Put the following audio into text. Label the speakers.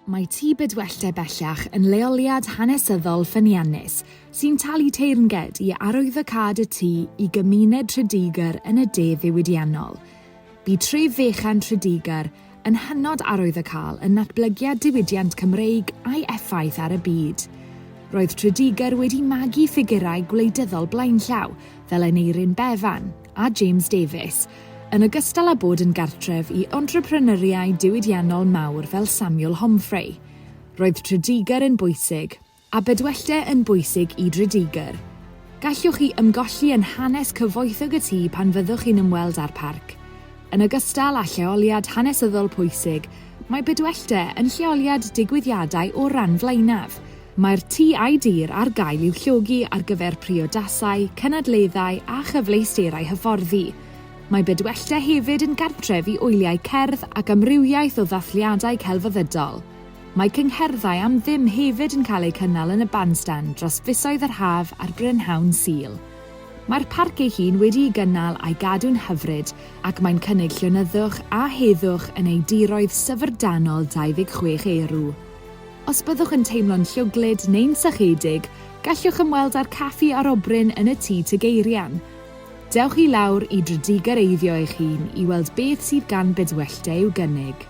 Speaker 1: Mae Tŷ Bydwelltau bellach yn leoliad hanesyddol ffyniannus sy'n talu teyrnged i arwyddocâd y tŷ i gymuned Tredegar yn y de ddiwydiannol. Bu tref fechan Tredegar yn hynod arwyddocâl yn natblygiad diwydiant Cymreig a'i effaith ar y byd. Roedd Tredegar wedi magu ffigurau gwleidyddol blaenllaw fel Aneurin Bevan, a James Davies, yn ogystal â bod yn gartref i entrepreneuriau diwydiannol mawr fel Samuel Homfray. Roedd Tredegar yn bwysig, a Bedwellty yn bwysig i Dredegar. Gallwch chi ymgolli yn hanes cyfoethog y tŷ pan fyddwch chi'n ymweld â'r parc. Yn ogystal â lleoliad hanesyddol pwysig, mae Bedwellty yn lleoliad digwyddiadau o'r ran flaenaf, Mae'r tŷ a'i dir ar gael i'w llogi ar gyfer priodasau, cynadleddau a chyfleusterau hyfforddi. Mae Bedwellty hefyd yn gartref i wyliau cerdd ac amrywiaeth o ddathliadau celfyddydol. Mae cyngherddau am ddim hefyd yn cael eu cynnal yn y bandstand dros fisoedd yr haf a'r brynhawn Sul. Mae'r parc ei hun wedi'i gynnal a'i gadw'n hyfryd ac mae'n cynnig llonyddwch a heddwch yn ei diroedd syfrdanol 26 erw. Os byddwch yn teimlo'n llwglyd neu'n sychedig, gallwch ymweld â'r caffi arobryn yn y Tŷ Tegeirian. Dewch i lawr i Dredigareiddio eich hun i weld beth sydd gan Bedwellty i'w gynnig.